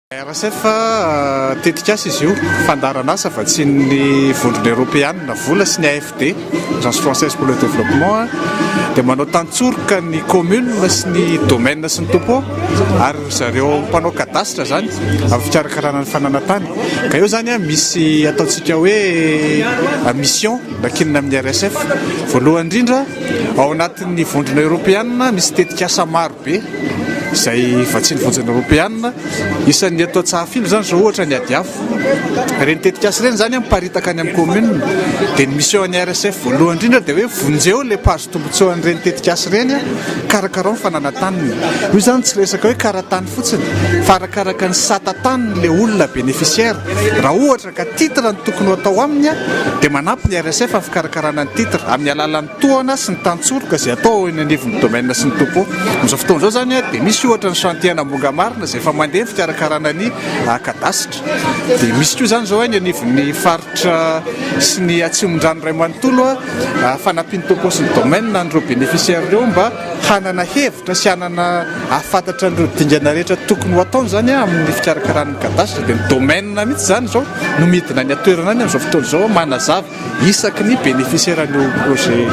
RSF, tetikasa izy io, fandaharan'asa vatsian'ny Vondrona Eoropeanina vola sy ny AFD, Agence Française pour le Développement, dia manao tantsoroka ny communes sy ny domaines sy ny topots ary ry zareo mpanao cadastre izany amin'ny fikarakarana ny fananantany. Ka eo izany misy ataontsika hoe mission nankinina amin'ny RSF. Voalohany indrindra, ao anatin'ny Vondrona Eoropeanina misy tetikasa maro. be izay vatsian'ny vondrona eoropeanina. Isan'ny eto Antsahafily izany izao ohatra ny ady afo. Ireny tetikasa ireny izany miparitaka any amin'ny kaominina. Dia ny mission an'ny RSF voalohany indrindra dia hoe vonjeo ilay mpahazo tombontsoa an'ireny tetikasa ireny, karakarao ny fananataniny. Io izany tsy resaka hoe kara-tany fotsiny fa arakaraka ny sata taniny ilay olona bénéficiaire. Raha ohatra ka titre no tokony ho atao aminy dia manampy ny RSF amin'ny fikarakarana ny titre amin'ny alalan'ny. tohana sy ny tantsoroka izay atao ao eny anivon'ny domaine sy ny topo. Amin'izao fotoana izao izany dia misy ohatra ny chantier ana Ambohanga Marina izay efa mandeha ny fikarakarana ny kadasitra. Dia misy koa izany izao eny anivon'ny faritra sy ny atsimondrano iray manontolo fanampian'ny topo sy ny domaine an'ireo bénéficiaires ireo mba hanana hevitra sy hanana hahafantatra an'ireo dingana rehetra tokony ho ataony izany amin'ny fikarakarana ny kadasitra. Dia ny domaine mihitsy izany izao no midina any an-toerana any amin'izao fotoana izao manazava. isaky ny bénéficiaire an'io projet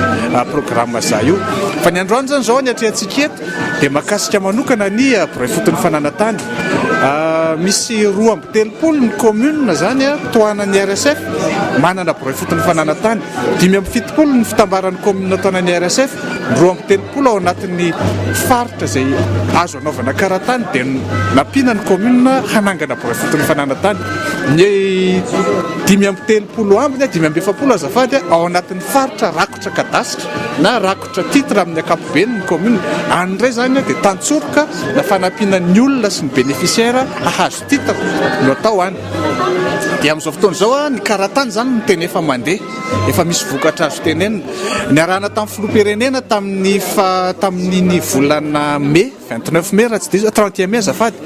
programme za io fa ny androany zany zao ny atrehantsika eto dia makasika manokana ny bray fotony fananantany misy roa amby telopolo ny commune zany a tohanan'ny rsf manana bray fotony fananantany dimy amby fitopolo ny fitambaran'ny commune tohanan'ny rsf roa amby telopolo ao anatin'ny faritra zay azo Nanaovana karatany dia nampiana ny kaominina hanangana boafidy mifanàna tany. Ny dimy amby telopolo amby na dimy amby efapolo azafady ao anatin'ny faritra rakotra kadasitra na rakotra titre amin'ny ankapobeny ny kaominina. Any indray izany dia tantsoroka na fanampiana ny olona sy ny bénéficiaire hahazo titre no atao any. Dia amin'izao fotoana izao ny karatany izany no tena efa mandeha. Efa misy vokatra azo tenenina. Niarahana tamin'ny filoham-pirenena tamin'ny tamin'iny volana mey, vingt neuf mey raha tsy diso, trente et un mey azafady,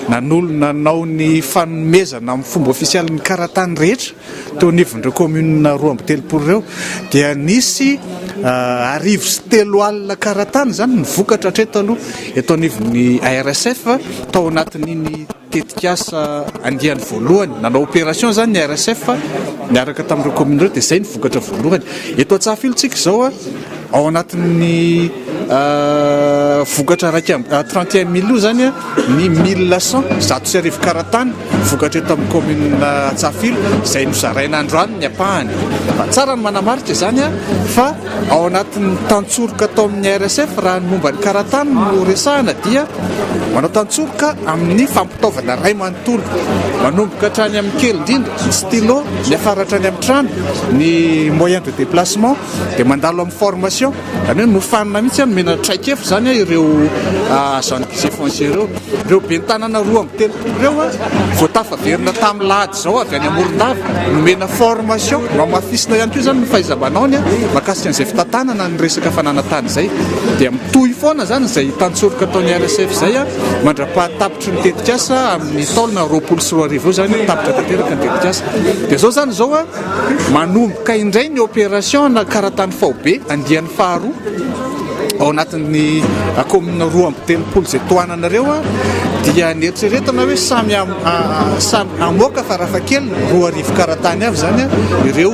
nanolo- nanao ny fanomezana amin'ny fomba ofisialy ny karatany rehetra teo anivon'ireo kaominina roa amby telopolo ireo dia nisy arivo sy telo alina karatany izany no vokatra hatreto aloha eto anivon'ny ARSF tao anatin'iny Tetikasa andiany voalohany, nanao opération izany ny RSF niaraka tamin'ireo commune ireo dia izay ny vokatra voalohany. Eto Antsahafilontsika izao, ao anatin'ny vokatra iraika amby, trente et un mille io izany ny mille cent, zato sy arivo karatany vokatra eto amin'ny commune Antsahafilo izay nozaraina androany ny ampahany. Tsara ny manamarika izany fa. Ao anatin'ny tantsoroka atao amin'ny RSF raha ny momba ny karatany no resahana dia manao tantsoroka amin'ny fampitaovana iray manontolo manomboka hatrany amin'ny kely indrindra, ny stylo, miafara hatrany amin'ny trano, ny moyen de déplacement dia mandalo amin'ny formation, izany hoe nofanina mihitsy an, nomena traikefa izany an ireo agents du Geffonce ireo. Ireo ben'ny tanàna roa amby telopolo ireo an, vao tafaverina tamin'ny lahady. Izaho avy any Morondava, nomena formation, nohamafisina ihany koa izany ny fahaiza-manaony mahakasika an'izay fitantanana ny resaka fananan-tany izay. Dia mitohy foana izany izay hitan-tsoroka ataon'ny RSF izay mandra-pahatapitry ny tetikasa amin'ny taona roapolo sy roa arivo eo izany, tapitra tanteraka ny tetikasa. Dia izao izany izao manomboka indray ny opération na karatany faobe andiany faharoa ao anatin'ny commune roa amby telopolo izay tohananareo dia ny eritreretina hoe samy Samy hamoaka farafahakeliny roa arivo karatany avy izany ireo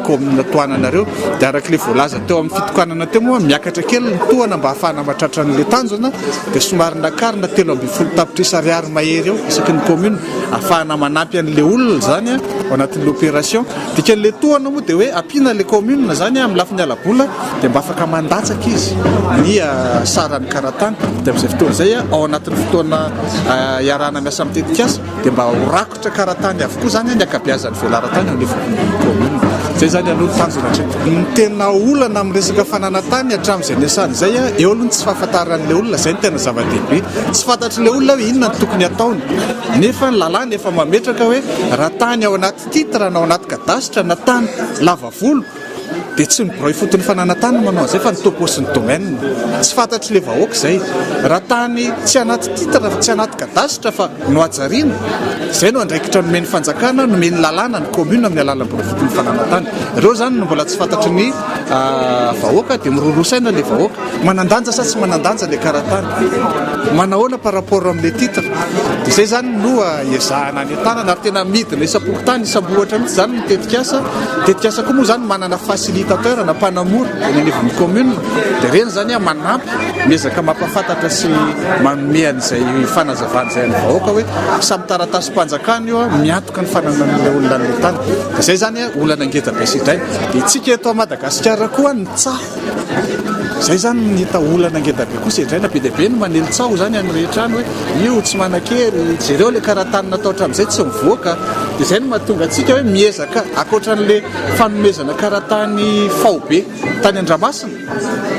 kaominina tohanana ireo. Dia araka ilay voalaza teo amin'ny fitokanana teo moa, miakatra kely ny tohana mba hahafahana mahatratra an'ilay tanjona. Dia somary nakarina telo ambin'ny folo tapitrisa ariary mahery eo isaky ny kaominina, hahafahana manampy an'ilay olona izany ao anatin'ilay opération. Dikan'ilay tohana moa dia hoe ampiana ilay kaominina izany amin'ny lafiny hala-bola. dia mba afaka mandatsaka izy ny saran'ny karatany dia amin'izay fotoana izay ao anatin'ny fotoana iarahana miasa amin'ny tetikasa dia mba ho rakotra karatany avokoa izany ny ankabeazan'ny velaran-tany ao anivon'ny kaominina. Izay izany aloha ny tanjona hatreto. Ny tena olana amin'ny resaka fananantany hatramin'izay niasany izay, eo aloha ny tsy fahafantaran'ilay olona, izay no tena zava-dehibe. Tsy fantatr'ilay olona hoe inona no tokony hataony. Nefa ny lalàna efa mametraka hoe raha tany ao anaty titre na ao anaty kadasitra na tany lava volo Dia tsy ny birao ifotony fananantany no manao an'izay fa ny topo sy ny domaine. Tsy fantatry le vahoaka izay. Raha tany tsy anaty titre fa tsy anaty cadastre fa nohajariana, izay no andraikitra nomen'ny fanjakana, nomen'ny lalàna ny commune amin'ny alalan'ny birao ifotony fananantany. Ireo izany no mbola tsy fantatry ny vahoaka dia miroroa saina le vahoaka. Manan-danja sa tsy manan-danja le karatany? Manahoana par rapport am le titre? Izay zany no iezahana anentanana ary tena midina isam-pokontany, isam-bohitra mihitsy zany ny tetikasa. Ny tetikasa koa moa zany manana facilitateur na mpanamora eny anivon'ny commune dia ireny zany manampy, miezaka mampahafantatra sy manome an'izay fanazavana izay an'ny vahoaka hoe samy taratasim-panjakana io, miantoka ny fananan'ilay olona an'ilay tany. Dia izay zany olana ngeda be sy izay. Dia isika eto Madagasikara koa ny tsaho Izay izany no hita olana ngeda be koa sedraina be dia be ny manely tsaho izany any rehetra any hoe io tsy manan-kery, jereo ilay karatany natao hatramin'izay tsy mivoaka dia izay no mahatonga antsika hoe miezaka ankoatran'ilay fanomezana karatany faobe tany Andramasina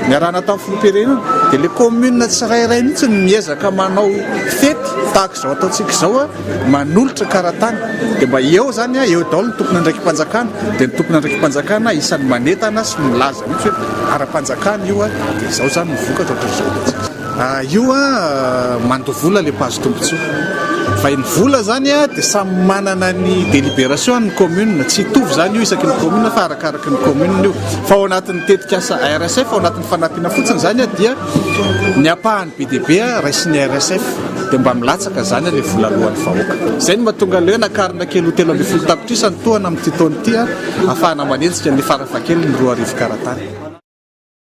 niarahana tamin'ny filoham-pirenena dia ilay commune tsirairay mihintsy no miezaka manao fety tahaka izao ataontsika izao manolotra karatany dia mba eo izany an, eo daholo ny tompon'andraiki-panjakana, dia ny tompon'andraiki-panjakana isan'ny manentana sy milaza mihitsy hoe ara-panjakana io an, dia izao izany no vokatra ohatr'izao. Io an, mandoa vola ilay mpahazo tombontsoa, fa iny vola izany an, dia samy manana ny délibération-ny ny commune, tsy hitovy izany io isaky ny commune fa arakaraky ny commune io, fa ao anatin'ny tetikasa RSF, ao anatin'ny fanampiana fotsiny izany an, dia ny ampahany be dia be an, raisin'ny RSF. Dia mba milatsaka izany ilay vola aloan'ny vahoaka. Izay no mahatonga an'ireo nakarina kely ho telo ambin'ny folo tapitrisa ny tohana amin'ity taona ity, ahafahana manenjika ny farafahakeliny roa arivo karatany.